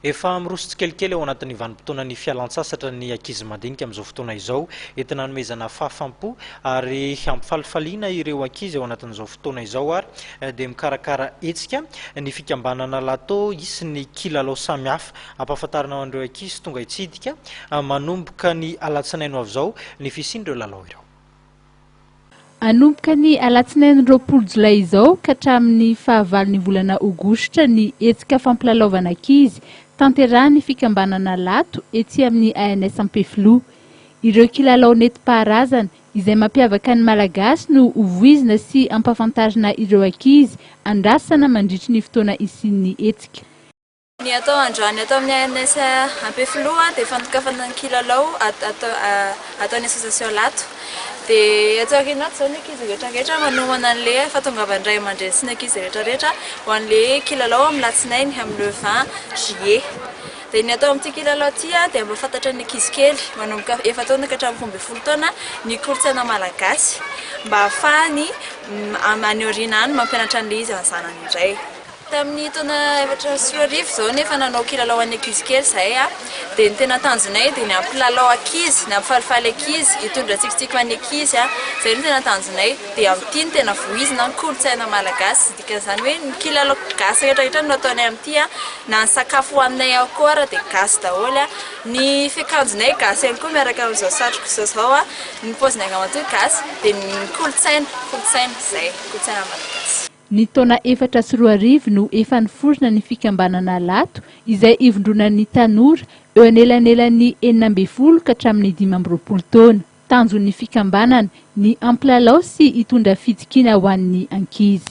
Efa miroso tsikelikely ao anatin'ny vanim-potoanan'ny fialan-tsasatra ny ankizy madinika amin'izao fotoana izao. Entina hanomezana fahafam-po ary hampifalifaliana ireo ankizy ao anatin'izao fotoana izao ary dia mikarakara hetsika ny fikambanana Lato hisy ny kilalao samihafa hampahafantarana an'ireo ankizy tonga hitsidika manomboka ny alatsinainy ho avy izao ny fisian'ireo lalao ireo. Hanomboka ny alatsinainy roapolo jolay izao ka hatramin'ny fahavalon'ny volana aogositra ny hetsika fampilalaovana ankizy tanterahin'ny fikambanana Lato etsy amin'ny ANS Ampefiloha. Ireo kilalao nentim-paharazana izay mampiavaka ny Malagasy no hovoizina sy hampafantarina ireo ankizy andrasana mandritry ny fotoana hisian'ny hetsika. Ny atao androany ato amin'ny ANS Ampefiloha dia fandokafana ny kilalao ataon'ny association Lato. Dia atsy aoriana atsy izao ny ankizy rehetra rehetra manomana an'ilay fahatongavan'ny ray aman-dreny sy ny ankizy rehetra rehetra ho an'ilay kilalao amin'ny latsinainy amin'ny le vingt juillet. Dia ny atao amin'ity kilalao ity dia mba hahafatatra ny ankizy kely manomboka efa-taona ka hatramin'ny roa ambin'ny folo taona ny kolontsaina malagasy mba hahafahany any aoriana any mampianatra an'ilay izy any zanany indray. Tamin'ny taona efatra sy roa arivo izao nefa nanao kilalao an'ny ankizy kely izahay dia ny tena tanjonay dia ny hampilalao ankizy, ny hampifalifaly ankizy, hitondra tsikitsiky ho an'ny ankizy, izay no tena tanjonay dia amin'ity no tena vohizina ny kolontsaina malagasy, dikan'izany hoe ny kilalao gasy rehetra rehetra no ataonay amin'ity, na ny sakafo hohaninay ao koa ary dia gasy daholo, ny fiakanjonay gasy ihany koa miaraka amin'izao satroko izao izao, ny paozinay ramatoa gasy, dia ny kolontsaina, kolontsaina, izay, kolontsaina malagasy. Ny taona efatra sy roa arivo no efa niforona ny fikambanana Lato, izay ivondronan'ny tanora eo anelanelan'ny enina ambin'ny folo ka hatramin'ny dimy amby roapolo taona. Tanjon'ny fikambanana ny hampilalao sy hitondra fitokiana ho an'ny ankizy.